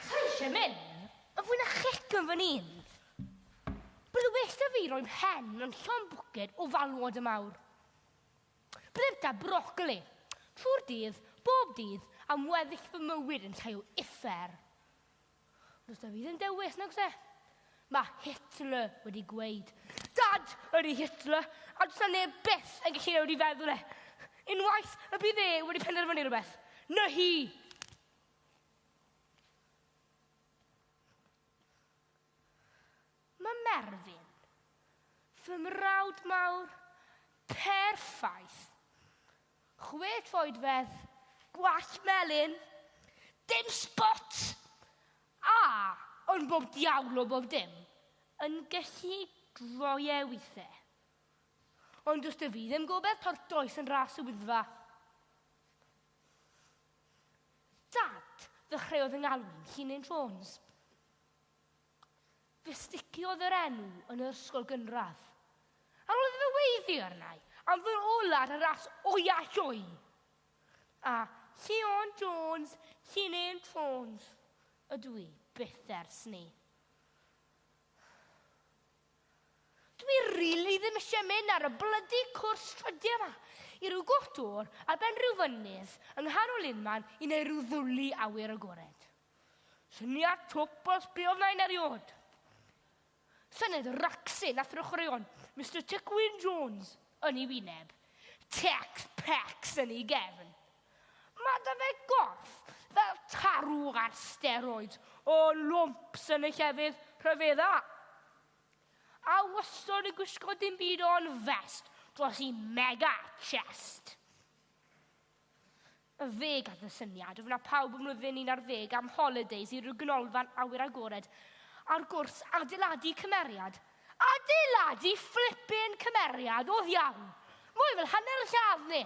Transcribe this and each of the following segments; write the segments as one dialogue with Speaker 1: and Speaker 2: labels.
Speaker 1: Sa eisiau mynd, ond fwy na chic yn fan un. Bydd well da fi roi mhen mewn llon bwced o falwod y mawr. Byddai'r da brocoli, trwy'r dydd, bob dydd, am weddill fy mywyd yn llai o uffar. Does da fi ddim dewis, nag se? Mae Hitler wedi gweud. Dad ydy Hitler, a does na neb byth yn gallu newid i feddwl e. Unwaith y bydd e wedi penderfynu rhywbeth, na hi! Mae Merfyn, fy mrawd mawr perffaith, chwe troedfedd, gwallt melyn, dim sbot, a, ond bob diawl o bob dim, yn gallu droi e weithiau. Ond does dy fi ddim gobeith tortoes yn ras y Wyddfa. Dad, ddechreuodd 'y ngalw i'n hun yn Jones. Fe sticiodd yr enw yn yr ysgol gynradd. Ar ôl iddo fe weiddi arnau am fy ola ar y ras oia lloi. A Llion Jones, Llini'n Jones, ydw i byth ers 'ny. Dwi rili ddim eisiau mynd ar y blydi cwrs trydio yma, i ryw gwch dwr ar ben ryw fynydd yng nghanol unman i neu ryw ddwli awyr agored. Syniad twp os be oedd nain eriod. Syniad racsin a throchreuon Mister Tecwyn Jones yn ei wyneb, Tex Pex yn ei gefn. Mae da fe gorff fel tarw ar steroid o lwmps yn y llefydd rhyfedda. A wastod yn gwisgo dim byd o'n fest dros i mega chest. Y fe gath y syniad o fyna pawb ym mlwyddyn 11 am holidays i ryw ganolfan awyr agored ar gwrs adeiladu cymeriad. Adeiladu flippin cymeriad oedd iawn! Mwy fel hanner lladd ni!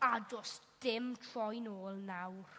Speaker 1: A does dim troi'n ôl nawr.